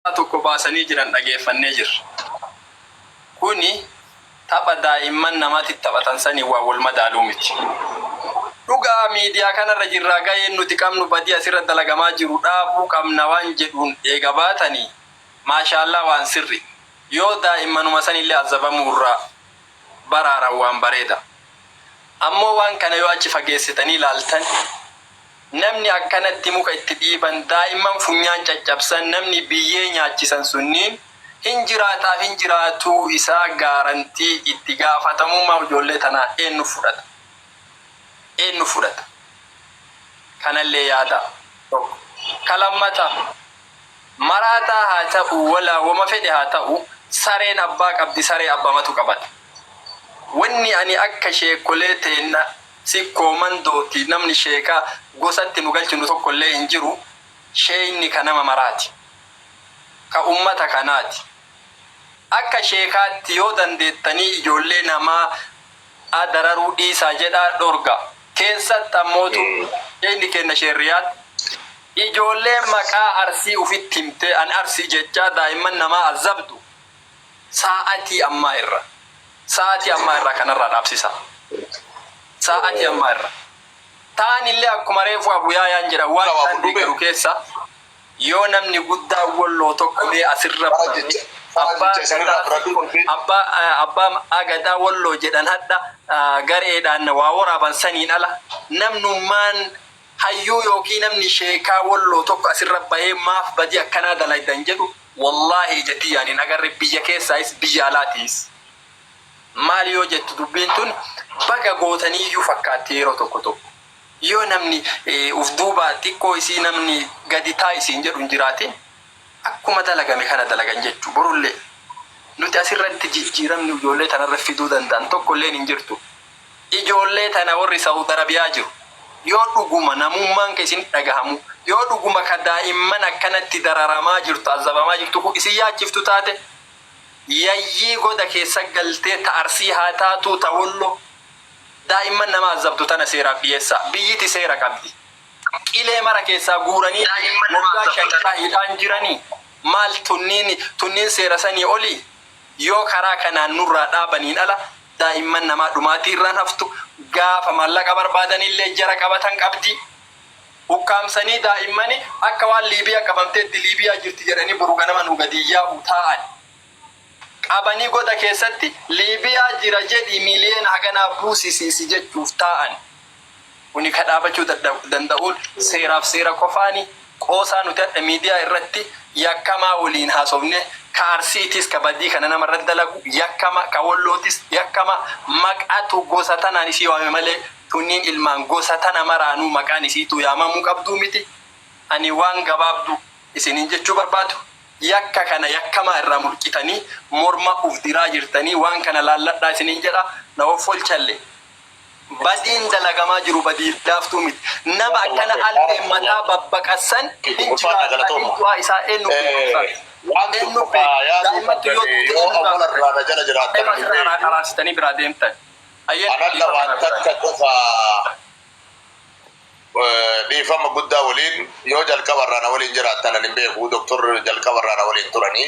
tokko baasanii jiran dhageeffannee jirra. Kuni tapha daa'imman namati taphatan saniin waan wal madaalu miti. Dhugaa miidiyaa kanarra jirraa gaheen nuti qabnu badii asirra dalagamaa jiru dhaabuu qabna waan jedhuun eega baatanii maashaallaah waan sirri. Yoo daa'immanuma sanillee azabamuurraa baraaran waan bareeda. Ammoo waan kana yoo achi fageessitanii laaltan. Namni akkanatti muka itti dhiiban, daa'imman funyaan caccabsan, namni biyyee nyaachisan sunniin hin jiraataaf hin jiraatuu isaa gaarantii itti gaafatamummaa ijoollee tanaa eennu fudhata? Eennu fudhata? Kanallee yaadaa. Tokko. Ka lammataa, maraataa haa ta'uu walaa woma fedhe haa ta'uu sareen abbaa qabdi saree abbamatu qabata. Wanni ani akka sheekkolee teenna, Sikkoo, Mandootti, namni sheeka gosa itti nu galchinu tokkollee hin jiru. Sheeyni ka nama maraati. Ka ummata kanaati. Akka sheekaatti yoo dandeettanii ijoollee namaa a dararuu dhiisaa jedhaa dhorgaa. Keessatti ammootu sheeyni keenna Sheeh Riyaad ijoollee maqaa Arsii ufitti himtee an Arsii jechaa daa'imman namaa azzabdu. Saa'atii ammaa irra. Saa'atii ammaa irraa kanarraa dhaabsisaa. Saa'atii ammaa irra. Taanillee akkuma reefuu Abu Yaayaan jedhan waan isaan deeggaru keessa yoo namni guddaan Wolloo tokko mee asirra baname abbaa abbaa abbaa gadaa Wolloo jedhan hadha gareedhaan waa woraaban saniin ala namnummaan Hayyuu yookiin namni sheekaa wolloo tokko asirra bahee maaf badii akkanaa dalaydan jedhu wollaahi ija tiyyaan hin agarre biyya keessaayis biyya alaa tiis. Maal yoo jettu dubbiin tun baga gootaniiyyuu fakkaatti yeroo tokko tokko. Yoo namni uf duubaa xiqqoo isii namni gadi taa'i siin jedhu hin jiraatin akkuma dalagame kana dalagan jechuu. Borullee nuti asirratti jijjiiramni ijoollee tanarra fiduu danda'an tokkolleen hin jirtu. Ijoollee tana warri Saud Arabiyaa jiru yoo dhuguma namummaan kee isinitti dhagahamuu, yoo dhuguma ka daa'imman akkanatti dararamaa jirtu, azabamaa jirtu kun isin yaachiftu taate, yayyii goda keessa galtee ta Arsii haa taatuu ta Wollo daa'imman nama azabdu tana seeraaf dhiyeessaa. Biyyiti seera qabdi. Qilee mara keessaa guuranii woggaa shantaa hidhaan jiranii maal tunniin tunniin seera sanii olii? Yoo karaa kanaan nurraa dhaabaniin ala Daa'imman namaa dhumaatii irraan haftu, gaafa maallaqa barbaadan illee jara qabatan qabdi. Ukkaamsanii daa'immani akka waan Liibiyaa qabamteetti Liibiyaa jirti jedhanii boru ganama nuu gadi yaa'u taa'ani. Qabanii goda keessatti Liibiyaa jira jedhii miiliyoona haganaa buusisi si jechuuf taa'ani. Kuni ka dhaabachuu danda'u seeraaf seera qofaani. Qoosaa nuti hadha miidiyaa irratti yakkamaa waliin haasofne ka Arsiitiis ka badii kana nama irratti dalagu yakkama, ka Wollootis yakkama. Maqatu gosa tanaan isii waame malee tunniin ilmaan gosa tana maraanuu maqaan isiituu yaamamuu qabduu miti. Ani waan gabaabdu isiniin jechuu barbaadu yakka kana yakkamaa irraa mulqitanii morma uf diraa jirtanii waan kana laalladhaa isiniin jedha. Na hoffolchalle Badiin dalagamaa jiru badii laaftuu miti. Nama akkana albeen mataa babbaqassan hin jiraatu adiin du'aa isaa eennu beeka ustaaz? Eennu beeka? Daa'immattu yoo duute eennu gaafata? Abbema irra anaa qaraarsitanii biraa deemtan. Hayyee dhiifama naaf godhaa. Dhiifama guddaa waliin yoo jalqaba irraa na waliin jiraattan ani hin beeku Doktar jalqaba irraa na waliin turanii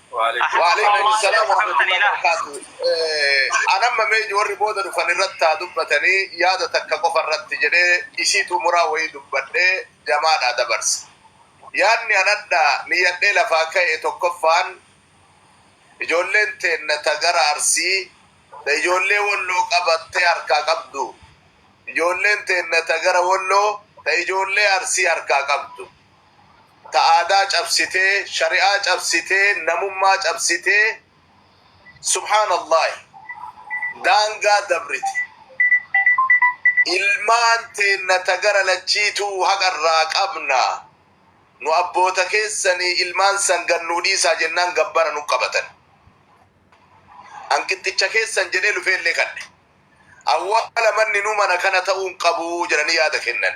Waalaikum salam wa rahmatullahi wa barakatuh. Eh, An amma mee warri booda dhufan irratti haa dubbatanii yaada takka qofa irratti jedhee isii xumuraa wayii dubbadhee jamaadhaa dabarse. Yaadni an adda niyyadhee lafaa ka'e tokkoffaan ijoolleen teenna ta gara arsii ta ijoollee walloo qabattee harkaa qabdu ijoolleen teenna ta gara walloo ta ijoollee arsii harkaa qabdu ta aadaa cabsitee shari'aa cabsitee namummaa cabsitee subhaanallaahi daangaa dabrite ilmaan teenna ta gara lachiituu haqa irraa qabna nu abboota keessanii ilmaan san gad nuu dhiisaa jennaan gabbara nu qabatan an qixxicha keessan jedhee lufeellee kadhe awwaala manni nu mana kana ta'uu hin qabu jedhanii yaada kennan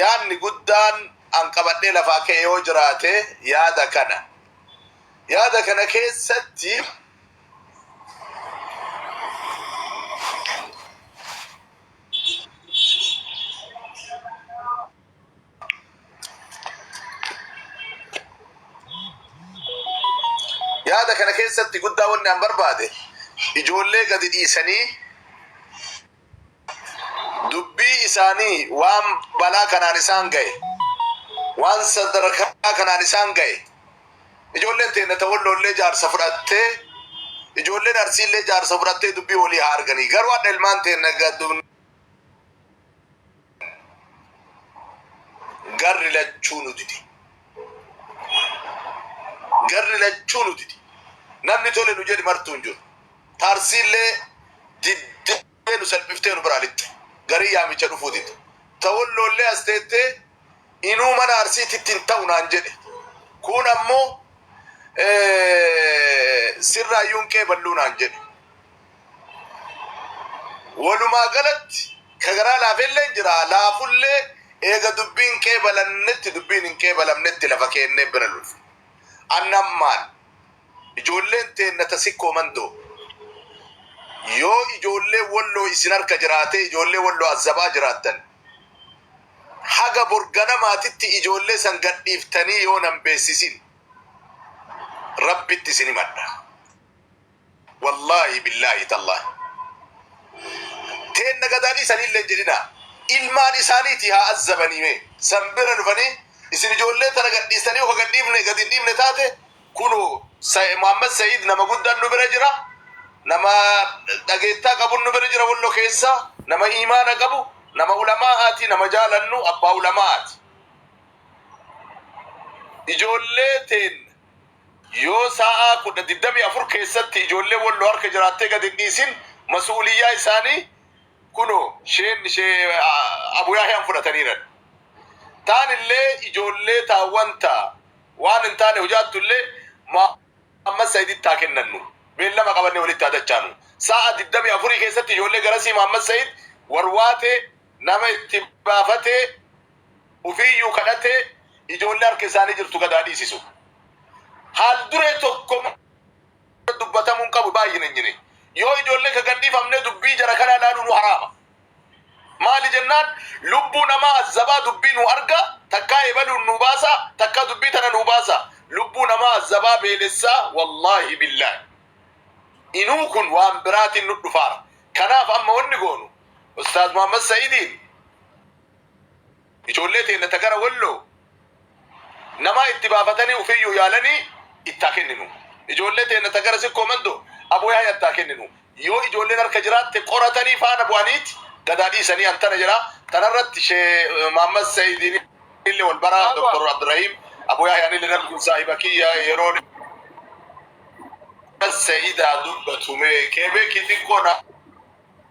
yaadni guddaan an qabadhee lafaa ka'e yoo jiraate yaada kana. Yaada kana keessatti yaada kana keessatti guddaa wanni an barbaade ijoollee gadi dhiisanii dubbii isaanii waan balaa kanaan isaan ga'e waan sadarkaa kanaan isaan ga'e ijoolleen teenya ta walloollee jaarsa fudhattee ijoolleen arsiillee jaarsa fudhattee dubbii walii haa arganii garuu hadha ilmaan teenya Garri lachuu nu dide. Garri lachuu nu dide. Namni tole nu jedhe martuu hin jiru. Tarsiillee diddee nu salphiftee nu biraa lixxe. Garii yaamicha dhufuu dide. Ta Wolloollee as teettee inuu mana Arsiititti hin ta'u naan jedhe. Kuun ammoo sirraayyuu hin qeeballuu naan jedhe. Walumaa galatti ka garaa laafelleen jira, laafullee eega dubbiin qeebalannetti dubbiin hin qeebalamnetti lafa keennee bira lolfna. Anna ammaan ijoolleen teenna ta Sikkoo Mandoo yoo ijoolleen Walloo isin harka jiraatee ijoollee Walloo Azzabaa jiraattan haga bor ganamaatitti ijoollee san gadhiiftanii yoo nan beessisin Rabbitti isin himadha. Wallaahi billaahi tallaahi teenna gadaa dhiisanii illee hin jedhinaa ilmaan isaaniitii haa azzabanii mee san bira dhufanii isin ijoollee tana gad dhiistanii yoo ka gad dhiifne gad hin dhiifne taate kunoo Sa- Muhammad Sa'iid nama guddaan nu bira jira nama dhageettaa qabun nu bira jira wallo keessa nama iimaana qabu nama ulamaa'aati nama jaalannu abbaa ulamaa'aati ijoollee teenna Yoo saa'aa 10, 24 keessatti ijoollee Wolloo harka jiraattee gad hin dhiisin masu'uliyyaa isaanii kunoo sheen shee Abu Yahyaan fudhataniiran. Taanillee ijoollee taa wanta waan hin taane hojaattu'llee Muhammad Sa'iditti haa kennannu. Beellama qabannee walitti haa dachaanu. Saa'aa 24 keessatti ijoollee garasii Muhammad Sa'id warwaatee nama itti baafatee, ufiiyyuu kadhatee ijoollee harka isaanii jirtu gad haa dhiisisu. Haal duree tokko dubbatamuu hin qabu baay'ina hin jine. Yoo ijoollee ka gad dhiifamnee dubbii jara kanaa ilaaluu nu haraama. Maali jennaan lubbuu namaa azzabaa dubbii nu arga takkaa ebaluun nu baasa takkaa dubbii tana nu baasa. Lubbuu namaa azzabaa beelessaa wallaahi billaahi. Inuu kun waan biraatiin nu dhufaara. Kanaaf amma wanni goonu Ustaaz Muhammad Sa'idiin Ijoollee teenna ta gara Walloo namaa itti baafatanii ufiiyyuu yaalanii itti haa kenninu. Ijoollee teenna ta gara Sikkoo Mandoo Aboo Yahayatti haa kenninu. Yoo ijoolleen harka jiraatte qoratanii faana bu'aniit gadaa dhiisanii antana jedha. Tanarratti Sheeh Muhammad Sa'iidiinillee wal bara, Dr. Abdurrahiim. Aboo Yahayaanillee namni kun saahiba kiyya yeroo dheeraa. Muhammad Sa'iid haa dubbatu mee. Keebeekii xiqqoo na.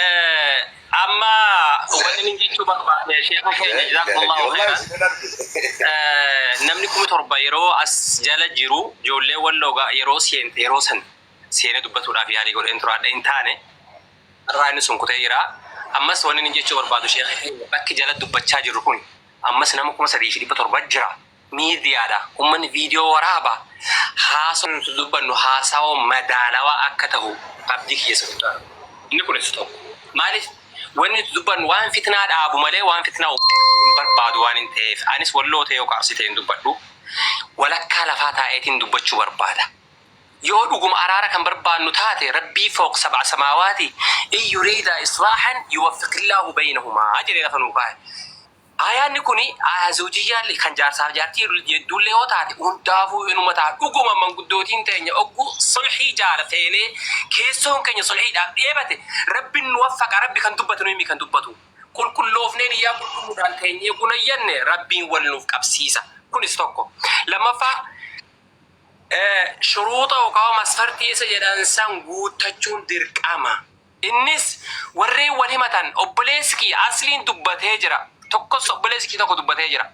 Eh, amma wanni nin jechuu barbaade sheeka keenya jazaakumullahu khairan Eh, namni kuma torba yeroo as jala jiru ijoollee walloogaa yeroo seente yeroo san seenee dubbatuudhaaf yaalii godheen turaadha hin taane irraa inni sun kutee jira ammas wanni nin jechuu barbaadu sheeka keenya bakki jala dubbachaa jirru kun ammas nama kuma sadii fi dhibba torba jira miidiyaadha. Ummanni viidiyoo waraaba, haasawni nuti dubbannu haasawa madaalawaa akka tahu abdii kiyya isa guddaadha. Inni kunis tokko. Maaliif? Wanni nuti dubbannu waan fitnaa dhaabu malee waan fitnaa uumu dhaabu hin barbaadu waanin taheef. Anis Walloo tahee yookaa Arsii tahee hin dubbadhu. Walakkaa lafaa taa'eetiin dubbachuu barbaada. Yoo dhuguma araara kan barbaannu taate Rabbii fooq sab'a samaawaati in yuriidaa islaahan yuwaffiqillaahu baynahumaa jedhee lafa nuu kaahe. Aayaanni kuni aaya zawjiyyaa'llee, kan jaarsaa fi jaartii jidduu'llee yoo taate, hundaafuu inuma taha. Dhuguma manguddootiin teenya oggu sulhii jaala feenee, keessoon keenya sulhiidhaaf dheebate, Rabbin nu waffaqa, Rabbi kan dubbate nuyi mi kan dubbatu. Qulqulloofnee niyyaa qulqulluudhaan teenyee guna iyyanne, Rabbiin wal nuuf qabsiisa. Kunis tokko. Lammaffaa, shuruuxa yookaa masfartii isa jedhan san guuttachuun dirqama. Innis warreen wal himatan obboleessi kiyya Asliin dubbatee jira. Tokkos obboleessi kiyya tokko dubbatee jira.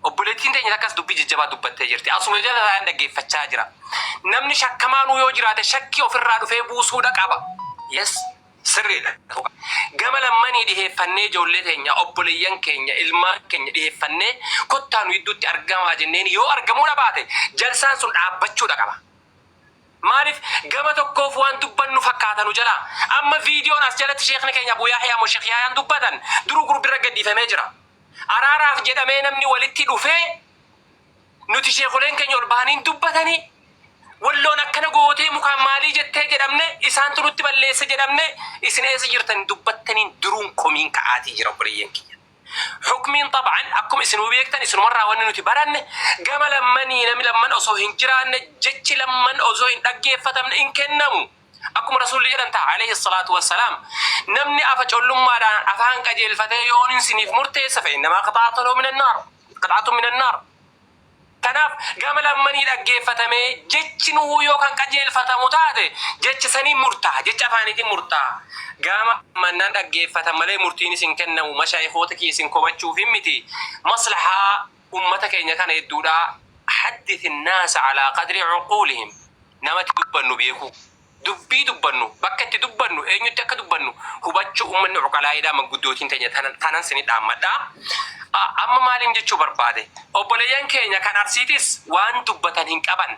Obboleettiin teenya takkas dubbii jajjabaa dubbattee jirti. Asuma jala taa'een dhaggeeffachaa jira. Namni shakkamaanuu yoo jiraate shakkii ofirraa dhufee buusuudha qaba. Yes, sirriidha. Gama lammanii dhiheeffannee ijoollee teenya, obboleeyyan keenya, ilmaan keenya dhiheeffannee kottaa nu gidduutti argamaa jenneen yoo argamuudha baate jalsaan sun dhaabbachuudha qaba. Maalif gama tokkoof waan dubbannu fakkaata nu jalaa. Amma viidiyoon as jalatti sheekni keenya Abu Yahyaa moo Sheekh Yahyaan dubbatan duruu gurbirra gaddifamee jira. Araaraaf jedhamee namni walitti dhufee nuti sheekholeen keenya ol bahanii hin dubbatani, Walloon akkana gootee mukaan maalii jettee jedhamne, isaantu nutti balleesse jedhamne, isin eessa jirtan hin dubbattaniin duruun komiin ka'aatii jira obboleeyyan kiyya. Hukmiin xab'an akkuma isinuu beektan isinumarraa wanni nuti baranne gama lammanii namni lamman osoo hin jiraanne jechi lamman osoo hin dhaggeeffatamne hin kennamu. Akkuma Rasuulli jedhan taha aleyhi salaatu wa salaam namni afa collummaadhaan afaan qajeelfatee yoonin siniif murteessa fa'innamaa qixaatun minannaar qixaatun minannaar. Kanaaf, gama lammanii dhaggeeffatamee jechi nuhuu yoo kan qajeelfatamu taate jecha saniin murtaaha, jecha afaaniitiin murtaaha. Gama mannaan dhaggeeffatan malee murtiinis hin kennamu, mashaayikhoota kiyya isin komachuufiin miti, maslahaa ummata keenya kana hedduudha. Haddith an-naasa alaa qadri uquulihim, namatti dubbannu beekuu. Dubbii dubbannu, bakka itti dubbannu, eenyutti akka dubbannu hubachuu ummanni cuqalaa'eedha manguddootiin teenya tanan sini dhaammadha. a Amma maaliin jechuu barbaade? Obboleeyyan keenya kan Arsiitis waan dubbatan hin qaban.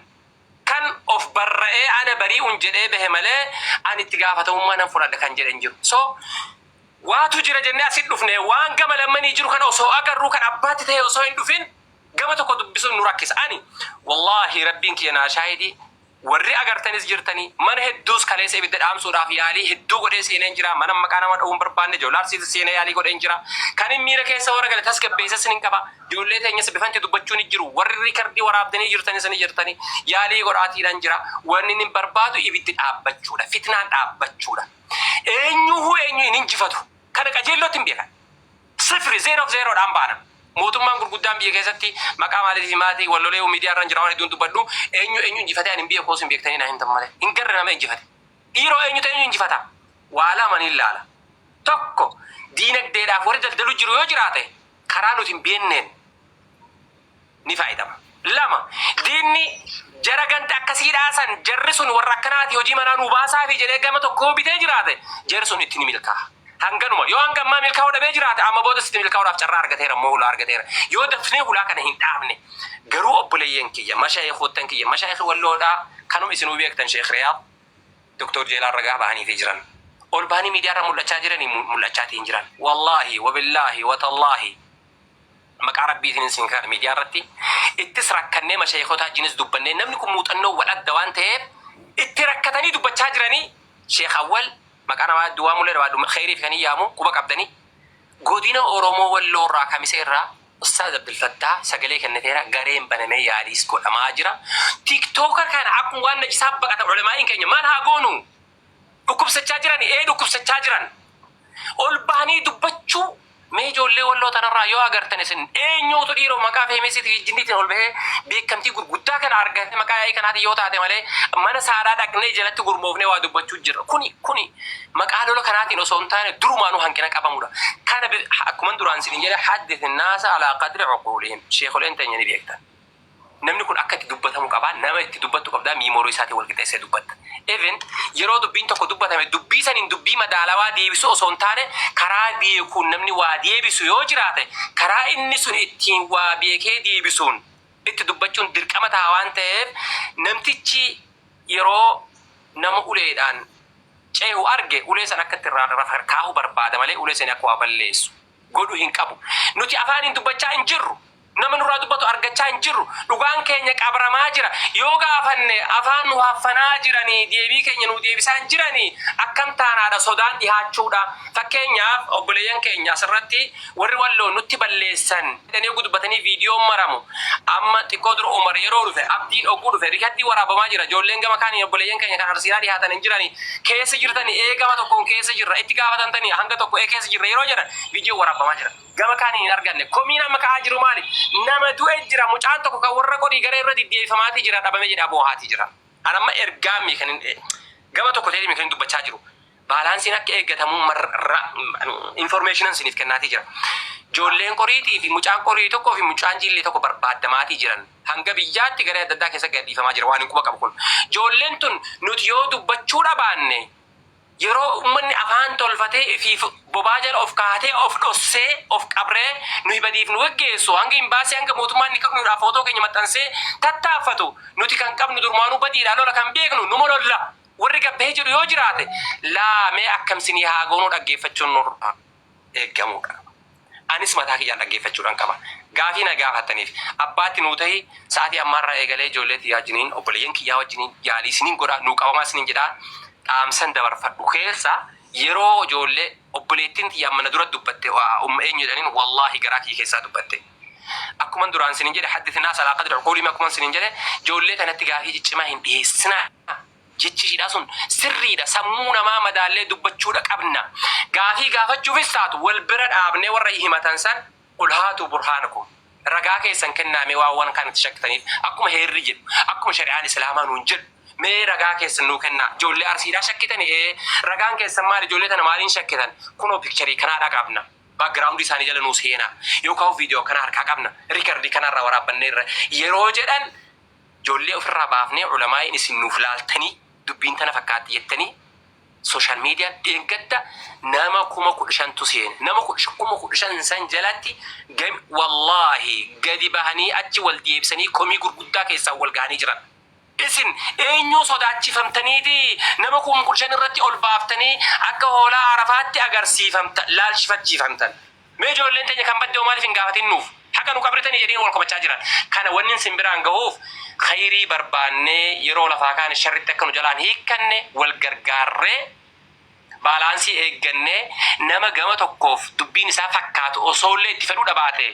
Kan of barra'ee ana barii'un jedhee bahe malee ani itti gaafatamummaa nan fudhadha kan jedhe hin jiru. So waatu jira jennee asitti dhufne waan gama lammanii jiru kana osoo agarruu kan abbaatti ta'e osoo hin dhufin gama tokko dubbisuun nu rakkisa. Ani wallaahi rabbiin kiyya naa shaahidii Warri agartanis jirtanii. Mana hedduus kaleessa ibidda dhaamsuudhaaf yaalii hedduu godhee seeneen jira. Manan maqaa nama dha'uu hin barbaanne Joolaar Siitis seenee yaalii godheen jira. Kanin miira keessa warra gale tasgabbeessas nin qaba. Ijoollee teenyas bifan itti dubbachuu ni jiru. Warri riikardii waraabdanii jirtanis ni jirtanii. Yaalii godhaatiidhan jira. Waninin barbaadu ibiddi dhaabbachuudha. Fitnaan dhaabbachuudha. Eenyuuhuu eenyu hin injifatu. Kana qajeelloottin beekan. Sifri, zero fi zero, dhaan baana. Mootummaan gurguddaan biyya keessatti maqaa maaliitii fi maati wal lolee miidiyaa irran jira waan hedduun dubbadhu eenyu eenyu injifatee ani hin beeku osoo hin beektanii naa himtan malee hin garre nama injifate. Dhiiroo eenyutu eenyu injifata? Waa lama niin laala. Tokko diinagdeedhaaf warri daldalu jiru yoo jiraate karaa nuti hin beenneen. ni faaydamu. Lama, diinni jara ganda akkasii dhaasan jarri sun warra akkanaati hojii manaa nuu baasaafi jedhee gama tokkoo bitee jiraate jari sun itti ni milkaaha. Hanganuma. Yoo hanga ammaa milkaa'uu dhabee jiraate amma boodas itti milkaa'uudhaaf carraa argateera immoo hulaa argateera. Yoo dafnee hulaa kana hin dhaabne. Garuu obboleeyyan kiyya, mashaayikhoottan kiyya, mashaayikhi Walloodhaa kanuma isinuu beektan Sheekh Riyaad, Doktoor Jeelaan ragaa bahaniifii jiran. Ol bahanii miidiyaarra mul'achaa jiranii mul'achaatii hin jiran. Wallaahi, wabillaahi, watallaahi Maqaa rabbiitiin isin kadhadha miidiyaa irratti ittis rakkannee mashaayikotaa wajjinis dubbannee namni kun muuxannoo wal adda waan ta'eef itti rakkatanii dubbachaa jiranii sheek awwal maqaa namaa hedduu waamullee barbaadu kheeyriif kan hin yaamu quba qabdanii godina oromoo walloo irraa kamisee irraa ustaaz abdulfattaa sagalee kenniteera gareen banamee yaaliis godhamaa jira tiktoker kana akkuma waan najisaa baqata ulamaa'iin keenya maal haa goonu Dhukkubsachaa jirani? Ee dhukkubsachaa jiran. Ol bahanii dubbachuu mee ijoollee walloo tanarraa yoo agartan isin eenyuutu dhiiroo maqaa feemesiitii fi jinniitiin ol bahee beekamtii gurguddaa kana argate maqaa yaa'ii kanaatiin yoo taate malee mana saadaa dhaqnee jalatti gurmoofnee waa dubbachuu jirra kuni kuni maqaa lola kanaatiin osoo hin taane durumaanuu hanqina qabamudha kana akkuman duraan isin jedhe haddith naasa alaa qadri uquulihim sheekoleen teenya ni beektan Namni kun akka itti dubbatamu qaba. Nama itti dubbattu qabda, miimoorii isaatiin wal qixeessee dubbatta. Even yeroo dubbiin tokko dubbatame dubbii saniin dubbii madaalawaa deebisuu osoo hin taane karaa beekuun namni waa deebisu yoo jiraate karaa inni sun ittiin waa beekee deebisuun itti dubbachuun dirqama taha waan taheef namtichi yeroo nama uleedhaan cehu arge ulee san akka itti irraa kaahu barbaada malee ulee sanii akka waa balleessu godhu hin qabu. Nuti afaaniin dubbachaa hin jirru. Nama nurraa dubbatu argachaa hin jirru. Dhugaan keenya qabramaa jira. Yoo gaafanne afaan nu haffanaa jiranii deebii keenya nuu deebisaa hin jiranii akkam taanaadha sodaan dhihaachuudha. Fakkeenyaaf obboleeyyan keenya asirratti warri Walloo nutti balleessan jedhanii oggu dubbatanii viidiyoon maramu amma xiqqoo dura Umar yeroo dhufe Abdiin ogguu dhufe rikardii waraabamaa jira ijoolleen gama kaaniin obboleeyyan keenya kan arsiidhaa dhihaatan hin jirani keessa jirtani ee gama tokkoon keessa jirra itti gaafatantani hanga tokko ee keessa jirra yeroo jedhan viidiyoon waraabamaa jira gama kaaniin hin arganne komiin amma ka'aa jiru maali nama du'e jira mucaan tokko kan warra qorii gara irra diddeeffamaatii jira dhabame jedha boohaatii jira an amma ergaamii kan hin gama tokko ta'eemi kan hin dubbachaa jiru Baalaansiin akka eeggatamu information isiniif kennaatii jira. Ijoolleen qoriitii fi mucaan qorii tokkoo fi mucaan jiillee tokko barbaaddamaatii jiran. Hanga biyyaatti garee adda addaa keessa gadhiifamaa jira waan hin quba qabu kun. Ijoolleen tun nuti yoo dubbachuu dhabaanne yeroo ummanni afaan tolfatee ifiif bobaa jala of kaatee of dhossee of qabree nuyi badiif nu geggeessu hanga imbaasii hanga mootummaan ni kaknuudhaaf footoo keenya maxxansee tattaaffatu nuti kan qabnu durmaanuu badiidhaa lola kan beeknu numa lolla. Warri gad bahee jedhu yoo jiraate laa mee akkam isinii haa goonuu dhaggeeffachuun nurraa eeggamuudha. Anis mataa kiyyaan dhaggeeffachuudhan qaba. Gaafii na gaafattaniif abbaa itti nuu tahi sa'atii ammaa irraa eegalee ijoollee tiyyaa wajjiniin obboleeyyan kiyyaa wajjiniin yaalii isiniin godha nuu qabamaa isiniin jedha dhaamsan dabarfadhu keessaa yeroo ijoollee obboleettiin tiyya amma na dura dubbatte umm eenyu jedhaniin wallaahi garaa kiyya keessaa dubbatte. Akkuman duraan isiniin jedhe haddith naasa alaa qadri uquulihim akkuman isiniin jedhe ijoollee tanatti gaafii ciccimaa hin dhiheessinaa jechi ishiidhaa sun sirriidha sammuu namaa madaallee dubbachuudha qabna gaafii gaafachuufis taatu wal bira dhaabnee warra himatan san qul haatuu burhaanakum ragaa keessan kennaa mee waan waan kaan itti shakkitaniif akkuma heerri jedhu akkuma shari'aan islaamaa nuun jedhu mee ragaa keessan nuu kennaa ijoollee arsiidhaa shakkitani ee ragaan keessan maali ijoollee tana maaliin shakkitan kunoo picture kanaadhaa qabna background isaanii jala nuu seenaa yookaan video akkana harkaa qabna record kana irraa waraabbannee irra yeroo jedhan ijoollee ofirraa baafnee ulamaa'iin isin nuuf laaltanii dubbiin tana fakkaatti jettanii social media dheengadda nama kuma kudha shantu seene nama kuma kudha shan san jalatti gami wallaahi gadi bahanii achi wal deebisanii komii gurguddaa keessaa wal gahanii jiran. Isin eenyuu sodaachifamtaniitii nama kum kudha shan irratti ol baaftanii akka hoolaa Arafaatti agarsiifamta laalchifachiifamtan? Mee ijoolleen teenya kan badde hoo maaliif hin gaafatin nuuf? Haqa nu qabritanii jedhee wal komachaa jiran. Kana wannin sin biraan gahuuf khayrii barbaannee yeroo lafaa kaane sharritti akka nu jalaan hiikkanne wal gargaarree baalaansii eeggannee nama gama tokkoof dubbiin isaa fakkaatu osoollee itti fedhuu dhabaatee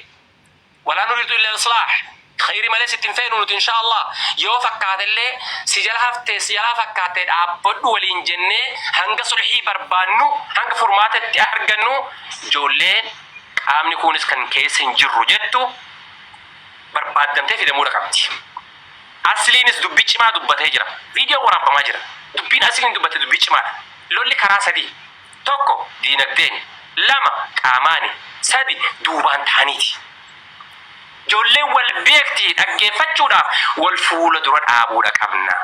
Walaa nuriidu illa islaaha. Khayri malee sitti hin feenu nuti inshaa Allaah. Yoo fakkaate illee si jala haftee si jalaa fakkaattee dhaabbadhu waliin jennee hanga sulhii barbaannu, hanga furmaata itti argannu ijoollee qaamni kuunis kan keessa hin jirru jettu barbaaddamtee fidamuudha qabdi. Asliinis dubbii cimaa dubbatee jira. Viidiyoon waraabbamaa jira. Dubbiin Asliin dubbatte dubbii cimaadha. Lolli karaa sadii. 1, Diinagdeeni. 2, Qaamaani. 3, Duubaan tahaniiti. Ijoolleen wal beekti dhaggeeffachuudhaaf wal fuula dura dhaabuudha qabna.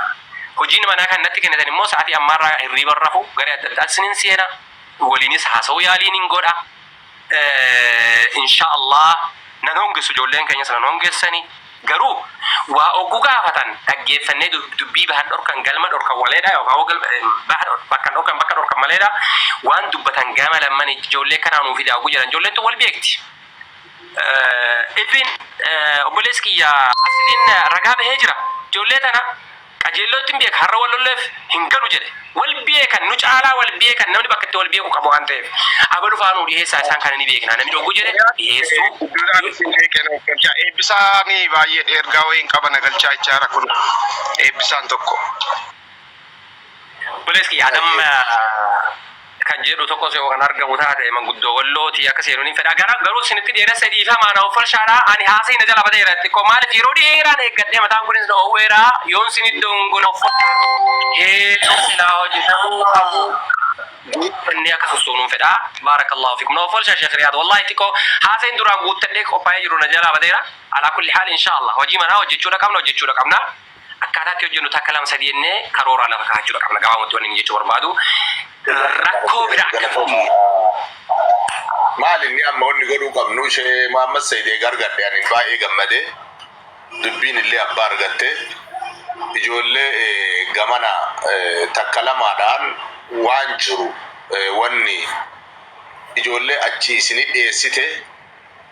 Hojiin manaa kan natti kennitan immoo sa'atii ammaarraa hirriiba hin rafu, garee adda addaatti isinin seena, waliinis haasa'uu yaaliinin godha. insha Allah nan hongessu ijoolleen keenyas nan hongessani garuu waa oggu gaafatan dhaggeeffannee dubbii bahan dhorkan galma dhorkan waleedha yookaan hoo galma baha bakkan dhorkan bakka dhorkan maleedha waan dubbatan gama lamman ijoollee kanaa nuu fidaa oggu jedhan ijoolleen tun wal beekti ibbiin obboleessi kiyya asiliin ragaa bahee jira ijoollee tana Qajeelloo ittin beeka har'a wal lolleef hin galu jedhe. Wal beekan nu caalaa wal beekan namni bakka itti wal beeku qaba waan ta'eef. Abalu fa'aa nuu dhiheessaa isaan kana ni beeknaa namni oggu jedhe dhiheessuu Eebbisaa Eebbisaan baay'ee dheergaa wayiin qaba na galchaa jechaa jira kun Eebbisaan tokko. Obboleessi kiyya ani amma. kan jedhu tokkos yoo kan argamu taate manguddoo wallooti akka seenuun hin fedha gara garuu sinitti dheeressa dhiifamaa na offolshaadha ani haasa'ii na jala badeera xiqqoo maaliif yeroo dheeraan eeggadhee mataan kunis na oowweera yoon sinit dongoon offotte heedduu silaa hojjetamuu qabu guuttannee akka sossoonuu hin fedha baarakallahu fikum na offolshaa sheekh riyaad wallahi xiqqoo haasa'in duraan guuttadhee qophaa'ee jiru na jalaa badeera alaa kulli haal inshaallah hojii manaa hojjechuudha qabna hojjechuudha qabna Akkaataa itti hojjennu takka lama sadii jennee karooraa lafa kaa'achuudha qabna. Gabaabumatti wanni inni jechuu barbaadu rakkoo bira akka dhufnu. Maal inni amma wanni godhuu qabnu ishee Muhammad Said eega argadhe ani baay'ee gammade dubbiin illee abbaa argatte ijoollee gamana takka lamaadhaan waan jiru wanni ijoollee achi isinii dhiyeessite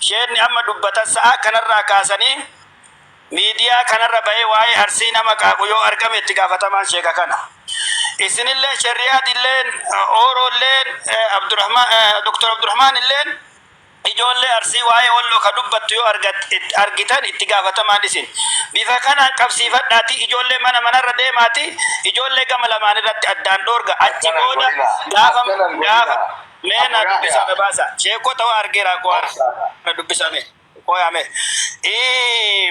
Sheekni amma dubbatan sa'aa kanarraa kaasanii miidiyaa kanarra bahee waa'ee Arsii nama qaaqu yoo argame itti gaafatamaan sheeka kana. Isinilleen Sherriyaad illeen Ooroo illeen Dr. Abdurahmaan illeen ijoollee Arsii waa'ee Walloo ka dubbattu yoo argitan itti gaafatamaan isin. Bifa kanaan qabsiifadhaatii ijoollee mana manarra deemaatii ijoollee gama lamaan irratti addaan dhoorga. Achi booda gaafa Mee na dubbisaa me baasa. Sheekota waa argeera koo na dubbisaa me. Koo yaa me. Ee.